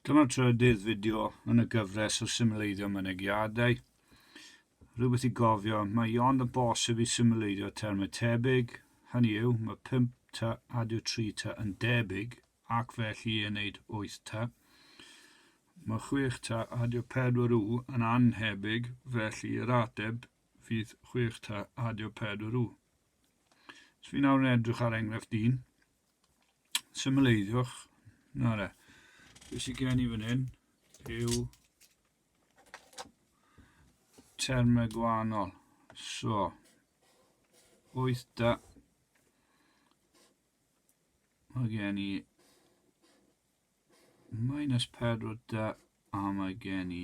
Dyma trydydd fideo yn y gyfres o symleiddio mynegiadau. Rhywbeth i gofio, mae ond yn bosib i symleiddio termau tebyg, hynny yw, mae 5 ta ad yw 3 ta yn debyg ac felly i wneud 8 ta. Mae 6 ta ad yw 4 u yn anhebyg felly yr ateb fydd 6 ta ad yw 4 u. Dwi nawr yn edrych ar enghraifft 1. symleiddwch. Na re. Be sy'n gen i fan hyn yw termau gwahanol. So, wyth da. Mae gen i minus 4 da a mae gen i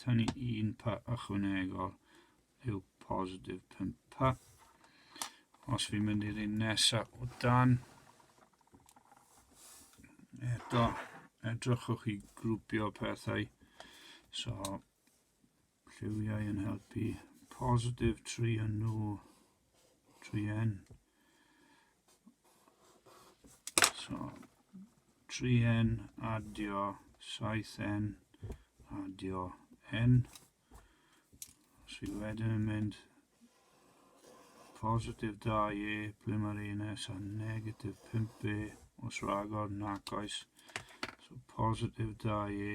Tynnu un pa ychwanegol yw positif 5 pa. Os fi'n mynd i'r un nesaf o dan, eto edrychwch i grwpio pethau. So, lliwiau yn helpu positif 3 yn nhw tri hen. So, tri hen, adio, saith hen, adio, hen. Sydd wedyn yn mynd positif 2e, ble mae'r un nes a negatif 5e, os rhagor, nac oes. So, positif 2e,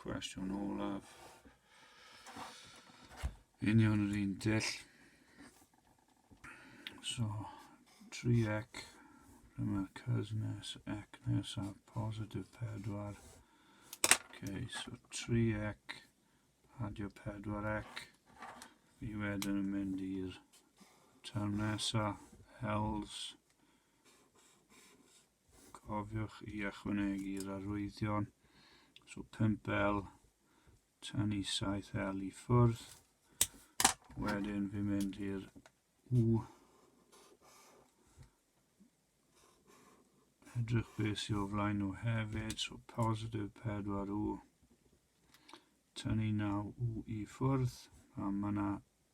Cwestiwn olaf. Union yr un dull. So, 3x, ble mae'r cys nes, ec nesaf, positif 4. Okay, so 3x, adio 4x. Fi wedyn yn mynd i'r term nesaf, else. Cofiwch i ychwanegu'r arwyddion, so 5L, tynnu 7L i ffwrdd, wedyn fi'n mynd i'r U, edrych beth sy'n o flaen nhw hefyd, so positif 4U, tynnu 9U i ffwrdd, a mae yna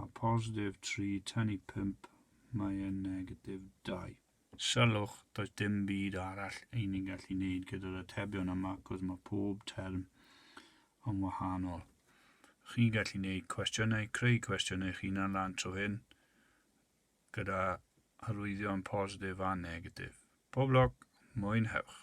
A positif 3, tynnu 5, mae e'n negatif 2. Sylwch, does dim byd arall i ni'n gallu neud gyda'r atebion yma, cos mae pob term yn wahanol. Chi'n gallu neud cwestiynau, creu cwestiynau eich hunan lan tro hyn, gyda hyrwyddion positif a negatif. Pob lwc, mwynhewch!